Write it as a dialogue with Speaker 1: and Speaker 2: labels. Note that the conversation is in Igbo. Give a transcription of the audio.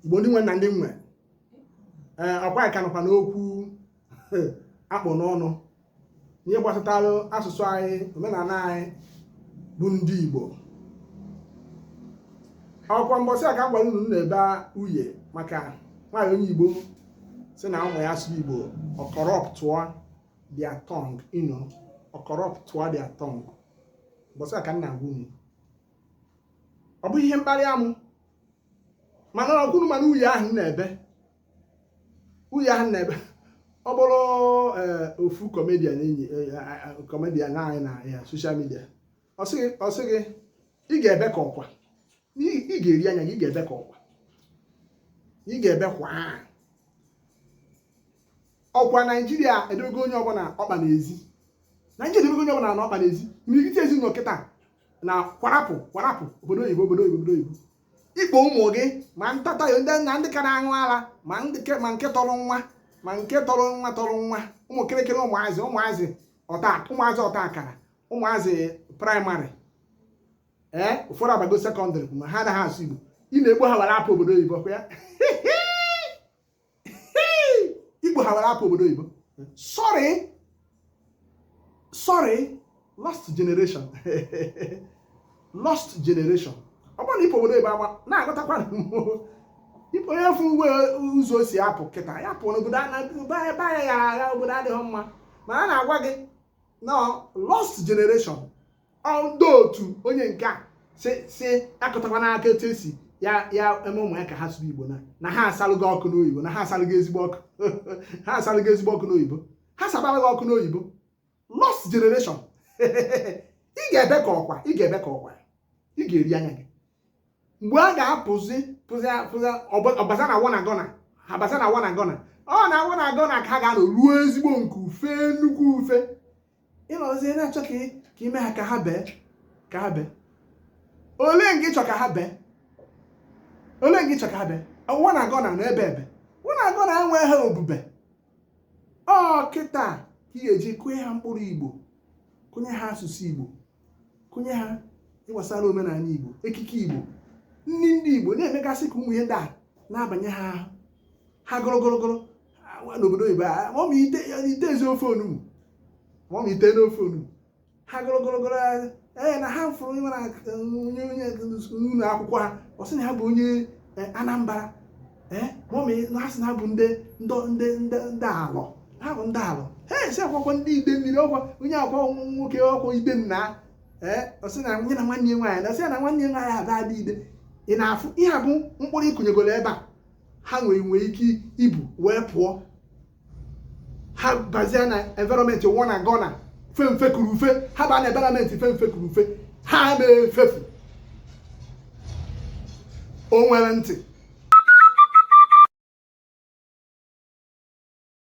Speaker 1: igbo ndị nwe na ndị nwe ee ọkwa anyị ka nọkwa n'okwu a kpụ n'ọnụ ihe gbasatara asụsụ anyị omenala anyị bụ ndị igbo ọkwa mbọsị a ka m gwara unu na-ebe uye maka nwaanyị onye igbo si na ụmụ ya asụ igbo ọ corruptụọ their tongue you know ọ corruptụọ their tongue mbọsị a ka m na-agwa unu ọ bụ ihe mkpali amụ mana ọkwa unu ma na uye ahụ na-ebe uye ahụ na-ebe ọ bụrụ eh, ofu comedian anyị eh, eh, comedian anyị na ya social media ọ sị gị ị ga-ebe ka ọkwa ị ga-eri anya gị ị ga-ebe ka ọkwa ị ga-ebe kwa ọkwa naijiria edebego onye ọbụla ọkpa n'ezi naijiria edebego onye ọbụla na ọkpa n'ezi imirikiti ezinụlọ kịta na kwarapụ kwarapụ obodo oyibo obodo oyibo obodo oyibo ị kpo ụmụ gị ma ntata ndị na ndị ka na-aṅụ ara ma nke tọrọ nwa ma nke tọrọ nwa tọrọ nwa ụmụ kịrịkịrị ụmụazị ụmụazị ọta ụmụazị ọta akara ụmụazị primary ee ụfọdụ abago secondary ma ha anaghị asụ igbo ị na-ekpo ha were apụ obodo oyibo kwa ya ị kpo ha were apụ obodo oyibo sorry sorry lost generation lost generation ọ bụrụ na ịpụ obodo oyibo agba na-agụtakwa onye fụ ụzọ o si apụ kịta ya pụọ n'obodo ebe anya ya agha obodo adịghị mma mana a na-agwa gị na lost generation ndị otu onye nke a si si akụtakwa n'aka etu esi ya ya eme ụmụ ya ka ha sụrụ igbo na na ha asalụgo okwu n'oyibo na ha asalụgo ezigbo okwu ha asalụgo ezigbo okwu n'oyibo ha sabara gị okwu n'oyibo lost generation ị ga-ebe ka ọkwa ị ga-ebe ka ọkwa ị ga-eri anya gị mgbe a ga-apụzi pụzi pụzi abaza na wanna gonna abaza na wanna gonna ọ na wanna gonna ka ha ga-anọ ruo ezigbo nke ufe nnukwu ufe ị nọzi na-achọ ka ị mee ha ka ha bee ka ha bee olee nke ịchọ ka ha bee olee nke ịchọ ka ha bee wanna gonna na-ebe ebe wanna gonna enweghị ha obube ọ kịta ka ị ga-eji kụnye ha mkpụrụ igbo kụnye ha asụsụ igbo kụnye ha ihe gbasara omenala igbo ekike igbo nri ndị igbo na-emegasị ka ụmụ ihe ndị a na-abanye ha ahụ ha gụrụgụrụgụrụ n'obodo oyibo a ma ọ ma ite ite e si ofe onugbu ma ọ ma ite n'ofe onugbu ha gụrụgụrụgụrụ ee na ha fụrụ onye nwere onye onye ụlọ akwụkwọ ha ọ sị na ha bụ onye Anambra ee mọmị na-asị na ha bụ ndị ndị ndị ndị alọ ha bụ ndị alọ ha esi akwakwa ndị ide mmiri ọkwa onye akwa nwoke ọkwa ide nna ee ọ sị na nye na nwanne ya nwaanyị na ọ sị na nwanne ya nwaanyị abụ adị ide ị na-afụ ihe a bụ mkpụrụ ị kụnyegoro ebe a ha nwere nwere ike ibu wee pụọ ha bazie na environment wanna gonna fe mfe kuru ufe ha baa na environment fe mfe kuru ufe ha na-efefu o nwere ntị